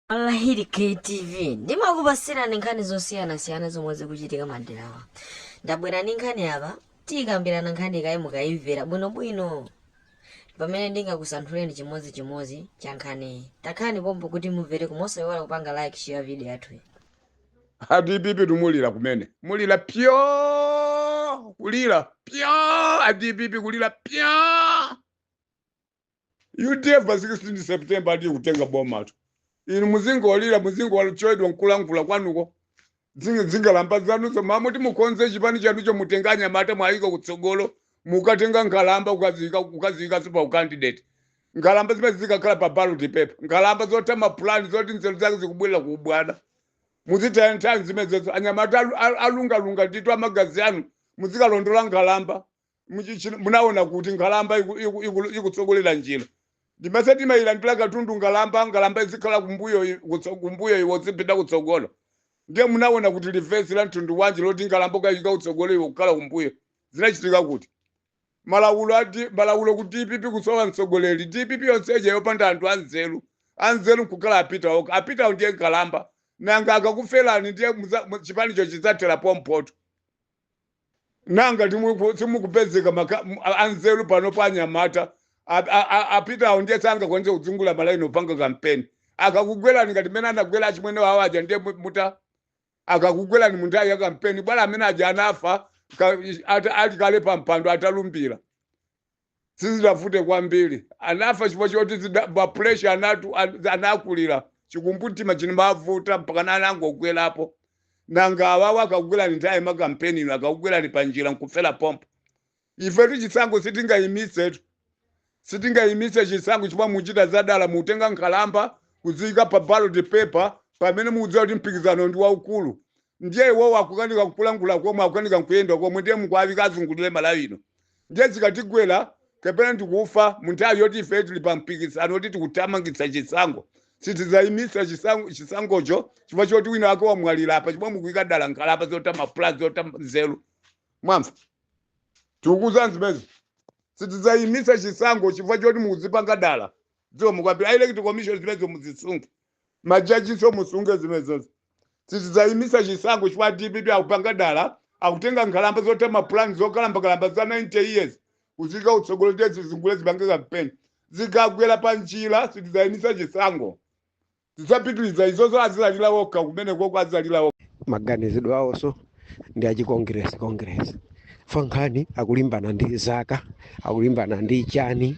Alahiri KTV ndimakupasirani nkhani zosiyanasiyana zomwe zikuchitika maderawa ndabwera ndi nkhani apa tikambirana nkhani kaye mukayimvera bwinobwino pamene ndingakusanthuleni chimodzi chimodzi cha nkhaniyi takhani pompa kuti mumvere komanso osayiwala kupanga like share video yathuyi a dpp simulira kumene mulira pyo kulira pyo a dpp kulira pyo udf pa 16 september ndiye kutenga bomatu inu muzingolira muzingochedwa nkulankhula kwanuko Zinga- zingalamba zanuzo mmalo moti mukonze chipani chanucho mutenge anyamata muwayike kutsogolo mukatenga nkhalamba ukaziyika ukaziyika pa ukandidate nkhalamba zimene zikakhala pa ballot paper nkhalamba zotha mapulani zoti nzeru zake zikubwerera kuubwana mukutaya nthawi zimenezo anyamata alu- alu- alungalunga ndithu amagazi anu muzikalondola nkhalamba muchiyani ino munaona kuti nkhalamba iku- iku- iku- ikutsogolera njira ndimayesa timayilandira katundu nkhalamba nkhalamba izikhala kumbuyo i- kutso- kumbuyo iwe uzipita kutsogolo ndiye munaona kuti lamulo la mtundu wanji loti nkhalamba ukayika kutsogolo iwe kukhala kumbuyo zinachitika kuti malamulo ati malamulo ku dpp kusowa mtsogoleri dpp yonse ija yopanda anthu anzeru anzeru nkukhala a pita okha a pitawo ndiye nkhalamba nanga akakuferani ndiye muza- mu- chipanicho chidzathera pompoto nanga timu- simukupezeka maka- m- a- anzeru pano pa anyamata A- a- a- pita awo ndiye sangakwanitse kuzungulira malaini opanga kampeni akakugwerani ngati mene anagwera achimwene wawo aja ndiye mu- mutani akakugwerani mu nthawi ya kampeni bola amene aja anafa ka- ata- ali kale pa mpando atalumbira sizidavute kwambiri anafa chifukwa choti zida- ma pressure anatu an- anakulira chikumbumtima chinkamuvuta mpakana anangogwerapo nanga awawa akakugwerani nthawi ya kampeni ino akakugwerani pa njira nkufera pompo ifetu chisankho sitingayimitsetu sitingayimitse chisankho chifukwa mukuchita zadala kutenga nkhalamba kuziyika pa ballot paper pamene mukudziwa kuti mpikisano ndi waukulu ndiye iwowo akukanika nkulankhula komwe akukanika nkuyenda komwe ndiye mukuwayika azungulire malawi ino ndiye zikatigwera kapena nkukafa mu nthawi yoti ife tili pa mpikisano woti tikuthamangitsa chisankho sitidzayimitsa chisankho- chisankhocho chifukwa choti wina wake wamwalira apa chifukwa mukuyika dala nkhalamba zotha ma plan zotha nzeru mwamva tikukuuzani zimenezi sitidzayimitsa chisankho chifukwa choti mukuzipanga dala izo mukawauze a electoral commission zimenezo muzisunge majajiso musunge zimenezozo sitidzayimitsa chisankho chifukwa dpp akupanga dala akutenga nkhalamba zotha mapulani zokalambakalamba za 90 years kuziyika kutsogolo kuti zizungulire zipange kampeni zikagwera pa njira sitidzayimitsa chisankho tidzapitiriza izozo azizalira okha kumenekoko azizalira okha maganizidwe awonso ndi achikongresi kongresi pa nkhani akulimbana ndi zaka akulimbana ndi chani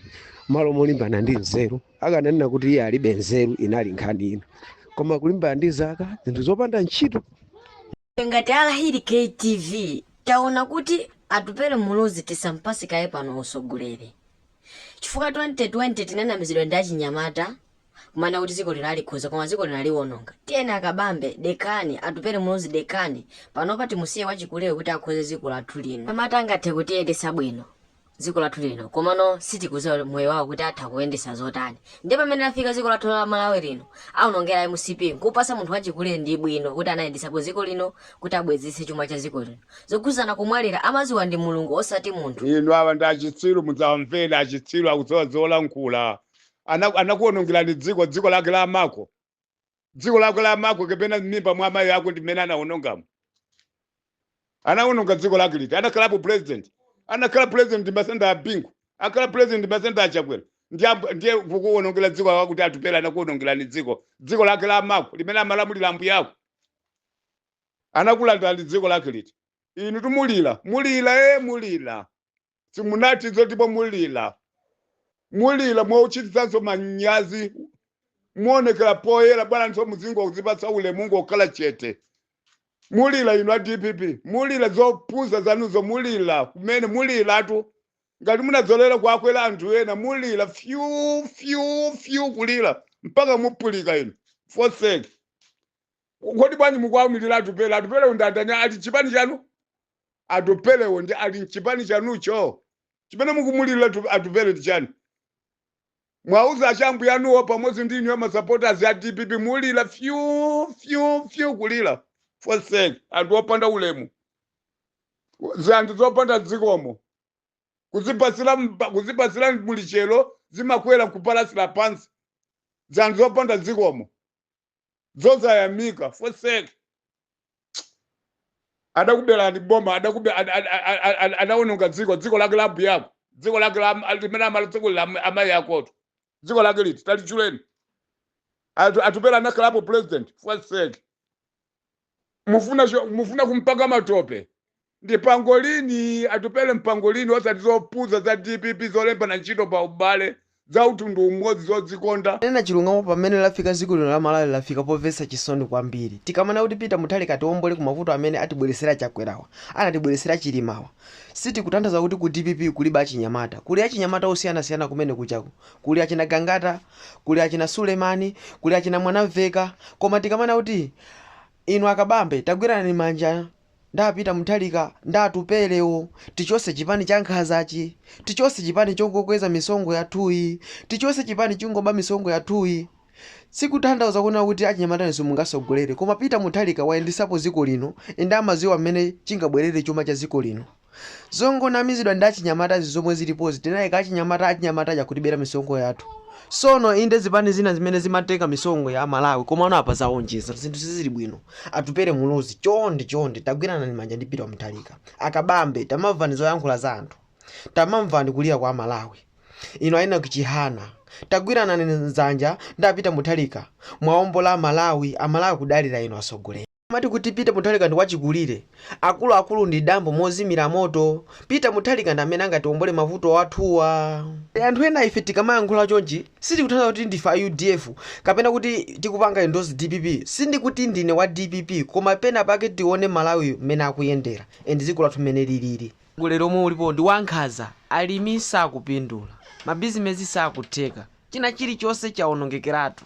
malo molimbana ndi nzeru akananena kuti iye alibe nzeru inali nkhani ina koma kulimbana ndi za ka zinthu zopanda ntchito ngati alahiri ktv taona kuti atupele muluzi tisampasi kaye pano usogolere chifukwa 2020 tinanamizidwa ndi achinyamata kumanena kuti dziko lino alikonza koma dziko lino aliwononga tiyeni akabambe dekani atupele muluzi dekani panopa timusiye wachikuleyo kuti akonze dziko lathu lino amati angathe kutiyendesa bwino dziko lathu lino komano sitikuziwa moyo wawo kuti atha kuyendesa zotani ndiye pamene lafika dziko lathu la malawi lino aonongera mcp nkupasa munthu wachikulire ndi dala bwino kuti anayendesapo dziko lino kuti abwezese chuma cha dziko lino zokhudzana kumwalira amaziwa ndi mulungu osati munthu inu awa ndi achitsiru mudzawamvera achitsiru akudziwa zolankhula Ana- anakuonongerani dziko dziko lake la amako dziko lako la amako kapena m'mimba mwa amayi ako ndi mmene anawonongamo anawononga dziko lake liti anakhalapo president anakhala president ndi masenda a bingu akhala president ndi masenda a chakwera ndiye amb- ndiye kukuwonongera dziko lako kuti atupele anakuwonongerani dziko dziko lake la amako limene amalamulira ambuya ako anakulandani dziko lake liti inu tu mulira mulira e mulira simunati izo ndipo mulira mulira mwawachititsanso manyazi muonekera poyera bwanjinso muzingo kuzipatsa ulemu ngokhala chete mulira inu a dpp mulira zopusa zanuzo mulira kumene muliratu ngati munadzolera kuwakwera anthu ena mulira fyu fyu fyu kulira mpaka mupulika inu foseki kodi bwanji mukuwaumirira atupele atupele undandani ali chipani chanu Atupelewo ndiye ali mchipani chanucho? Chimene mukumuliliratu, Atupele ndi chani? Mwauza achambuyanuwo pamodzi ndi inuyo ma supporters a dpp mulira fyu fyu fyu kulira fosek anthu opanda ulemu zanthu zopanda zikomo kuzipasira mba- kuzipasira mulichero zimakwera kupalasira pansi zanthu zopanda zikomo zosayamika foseki adakuberani boma adakube ad- ad- ad- ad- ad- adawononga dziko dziko lake la ambuyako dziko lake la- limene amala dziko la am- amayi akotu dziko lake liti talitchuleni Atu- atupele anakhalapo president foseki mufuna cho- mufuna kumpaka matope ndi pangolin atupele ndi pangolin osati zopusa za dpp zolembana ntchito pa ubale za mtundu umodzi zodzikonda kunena chilungamo pamene lafika dziko lino la malawi lafika povetsa chisoni kwambiri tikamanena kuti peter mutharika atiwombole ku mavuto amene atibweretsera chakwerawa anatibweretsera chilimawa sitikutanthaza kuti ku dpp kulibe achinyamata kuli achinyamata osiyanasiyana kumene kuchaku kuli achina gangata kuli achina sulemani kuli achina mwanamveka koma tikamanena kuti inu akabambe tagwiranani manja ndi a peter muthalika ndi atupelewo tichose chipani cha nkhazachi tichose chipani chongokweza misonkho yathuyi tichose chipani chongoba misonkho yathuyi sikuthandauza kunena kuti achinyamata inuso mungasogolere koma peter muthalika wayendesapo dziko lino ende amaziwa mmene chingabwerere chuma cha dziko lino Zongonamizidwa ndi achinyamatazi zomwe zilipozi tinaika achinyamata achinyamata akutibera misonkho yathu. Sono inde zipani zina zimene zimatenga misonkho ya Amalawi komano apa zaonjeza. Zinthu sizili bwino. Atupele Muluzi chonde chonde tagwiranani manja ndi Peter Mutharika. A Kabambe tamamvani zoyankhula za anthu. Tamamvani kulira kwa Amalawi. Inu a Enoch Chihana tagwiranani ndzanja ndi a Peter Mutharika muwaombole Amalawi. Amalawi akudalira inu atsogoleri. Amati kuti Peter Mutharika ndi wachikulire, akuluakulu ndi dambo mozimira moto. Peter Mutharika ndi amene angatiombole mavuto athuwa. Anthu ena ife tikamayankhula chonchi sitikutanthauza kuti ndife a udf kapena kuti tikupanga endorse dpp. Sindikuti ndine wa dpp koma pena pake tione Malawi mmene akuyendera and dziko lathu mmene liliri. Utsogoleri omwe ulipowu ndi wankhaza, alimi sakupindula, mabizimezi sakutheka, china chilichonse chawonongekeratu.